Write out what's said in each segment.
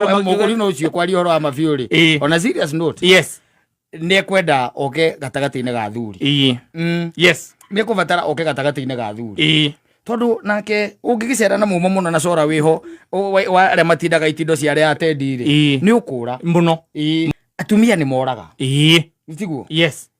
mũgũri no ũcio kwaria ũhoro wa mabiũ rĩ Ĩĩ. on a serious note yes nĩ kwenda oke gatagatĩ-inĩ ga athuri ii Mm, yes nĩ kũbatara oke gatagatĩ-inĩ ga athuri ii tondå nake å ngä gä cera na må må no na cora wä ho o- wa- wa arä a matindaga itindo cia arä a atendi rä Ĩĩ. nä å kå ra må no atumia nä moraga ii tiguo yes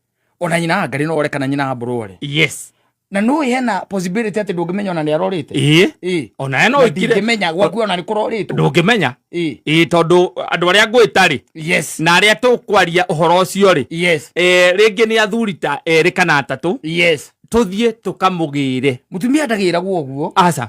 ona nyina wa ngari no ore kana nyina wa mburu ore yes na no hena possibility ati ndungimenya ona ni arorite ii ii ona eno ikire ndingimenya gwaku ona ni kuroritwo ndungimenya ii ii tondu andu aria ngwita ri yes na aria tukwaria uhoro ucio ri yes eh ringi ni athuri ta eri kana atatu yes tuthie tukamugire mutumia ndagiragwo guo aca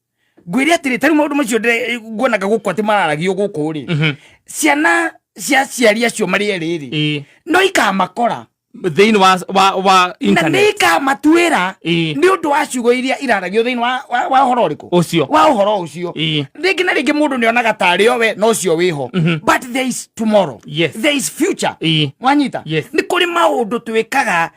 ngwĩre atĩrĩ tarĩ maũndũ macio nguonaga gũkũ atĩ mararagio gũkũ rĩ mhm. ciana cia ciari acio marĩ erĩ rĩ no ikamakora thĩinĩ wa wa wa na nĩ ikamatuĩra nĩ ũndũ wa ciugo iria iraragio thĩinĩ wa wa ũhoro ũrĩkũ ũcio wa ũhoro ũcio rĩngĩ na rĩngĩ mũndũ nĩ onaga ta arĩ owe no ũcio wĩho mhm. but there is tomorrow yes. there is future wanyita nĩ kũrĩ maũndũ twĩkaga